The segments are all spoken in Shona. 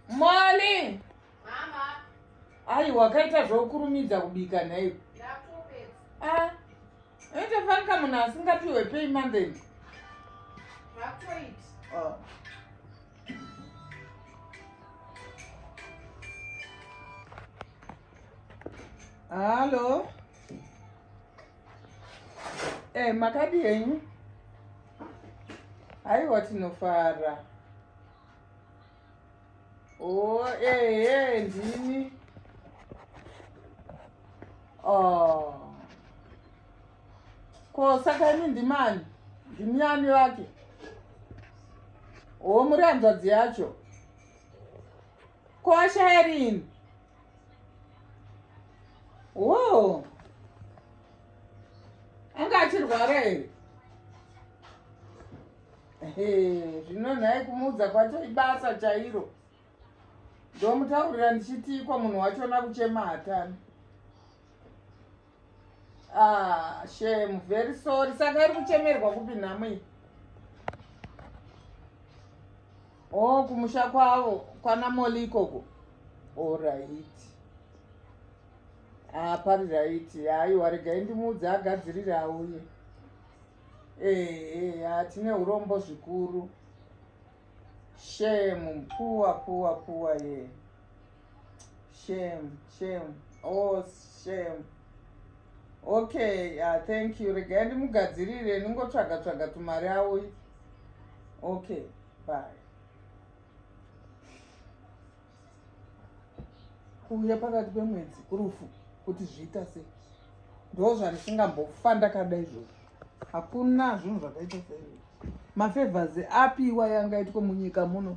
Morning. Mama. Ayi wakaita zvokurumidza kubika nhaiwe. Ah. Ete fanka munhu asingapiwe pay monthly. Vakutoita. Oh. Halo. Eh, makadi henyu? Haiwa tinofara. Oh, eh, eh, ndini. Oh. Ko saka ini ndimani? Ndini ani vake? Oh, muri hanzvadzi yacho. Ko ashaya rini? wo anga achirwara here zvino nhai kumuudza kwacho ibasa chairo ndomutaurira ndichitiikwa munhu wachona kuchema hatani Ah, shame, very sorry. Saka iri kuchemerwa kupi nhamo iyi? Oh, kumusha kwavo kwana Molly ikoko. All right. Ah, pari right. Aiwa, regai ndimuudze agadzirire auye. Eh, eh, ah, tine urombo zvikuru. Shame, poor, poor, poor, yeah. shame shame oh shame okay uh, thank you regai ndimugadzirire ndingotsvaga tsvaga tumari auyi okay bye kuuya pakati pemwedzi kurufu kuti zviita sei ndo zvandisingambofa ndakada izvozvo hakuna zvinhu zvakaita sei mafevhers apiwa yangaitwe munyika muno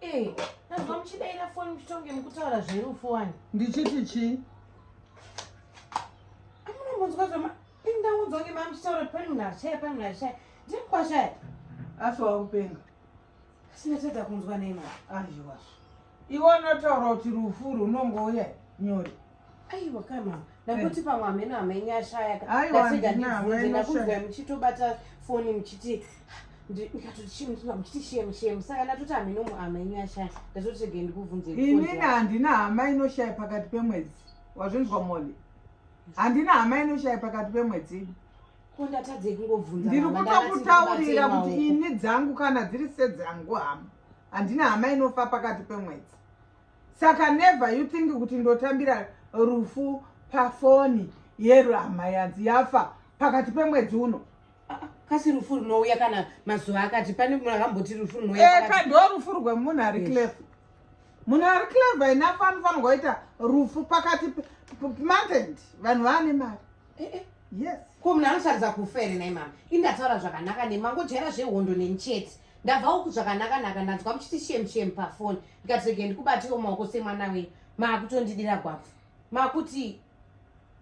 Eh, nazwa muchidaira foni muchitonge mukutaura zverufu wani. Ndichiti chii? Amunombonzwa zvama indaunzwa ngema muchitaura pani munhu achaya pani munhu achaya. Ndiri kwashaya. Asi wakupenga. Asi ndatadza kunzwa nema. Azviwazvo. Iwe unotaura kuti rufu runongouya nyore. aiwa kana ndakuti pamwe hameno hamenye ashaya ndakunzwa muchitobata foni muchiti inini handina hama inoshaya pakati pemwedzi wazvinzwa moli handina hama inoshaya pakati pemwedzi ndiri kutokutaurira kuti ini dzangu kana dziri sedzangu hama handina hama inofa pakati pemwedzi saka never you think kuti ndotambira rufu pafoni yero hama yanzi yafa pakati pemwedzi uno ah, kasi rufu runouya kana mazuva akati pane munhu akamboti rufu runouya eka eh, ndo rufu rwemunhu ari clever munhu ari clever enough anofanirwa kuita rufu pakati monthend vanhu vaane mari eh, eh. yes ko munhu anotaridza kufa here nai mama indataura zvakanaka ne mangojaira zvehondo neni chete ndabva uku zvakanakanaka ndanzwa muchiti shemshem pafoni ndikati rege ndikubatiwo maoko semwana wenyu maakutondidira gwabvu makuti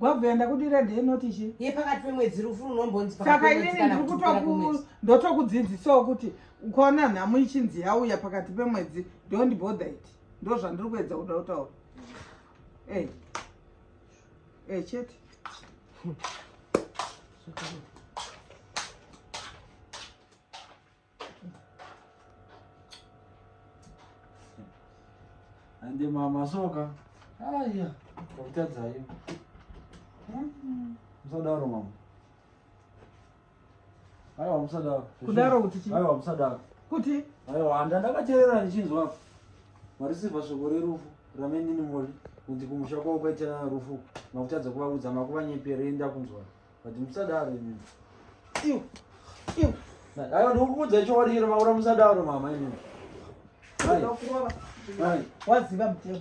gwabvu yandakudira ndeenoti chi ye pakati pemwedzi rufu runombonzi saka inini ndiri kutoku ndotokudzidzisawo kuti ukaona nhamo ichinzi yauya pakati pemwedzi don't bother it ndo zvandiri kuedza kuda kutaura ey eh. Eh, chete. Ande mama soka. Aya, kokutadza hiyo. Msadaro mama. Aiwa musadaro. Kudaro kuti chii? Aiwa musadaro. Kuti? Aiwa handa ndakaterera ndichinzwa apa. Marisiva shoko rerufu ramenini mori kuti kumusha kwavo kwaitira rufu makutadza kuvaudza makuvanyepere enda kunzwa but musadaro imimi. Iu. Iu. Aiwa ndikukuudza chokwadi chero maura musadaro mama imimi. Waziva mutemo.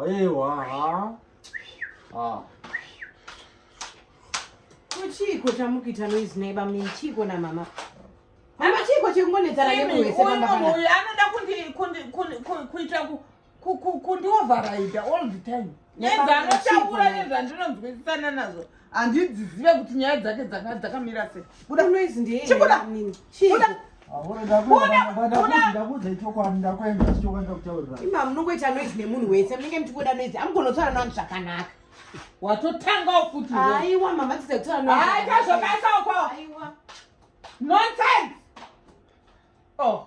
Aiwa ha. Ah. Kuchiko chamukuita noise neighbor mimi chiko na mama. Mama chiko chekungonetsana nemuwese pamba pamba. Uyu anoda kundi kundi kundi kuita ku kundioveraida all the time. Nezvanotaura nezvandinonzwisisana nazvo. handidzizive kuti nyaya dzake dzanga dzakamira sei buda noise ndiye chibuda chibuda imam munongoita noise nemunhu wese munenge muchingoda noise amugonotaura nani zvakanaka watotangawo futi aiwa mama tiza kutaura noise aitazvokaisa uko nonsense oh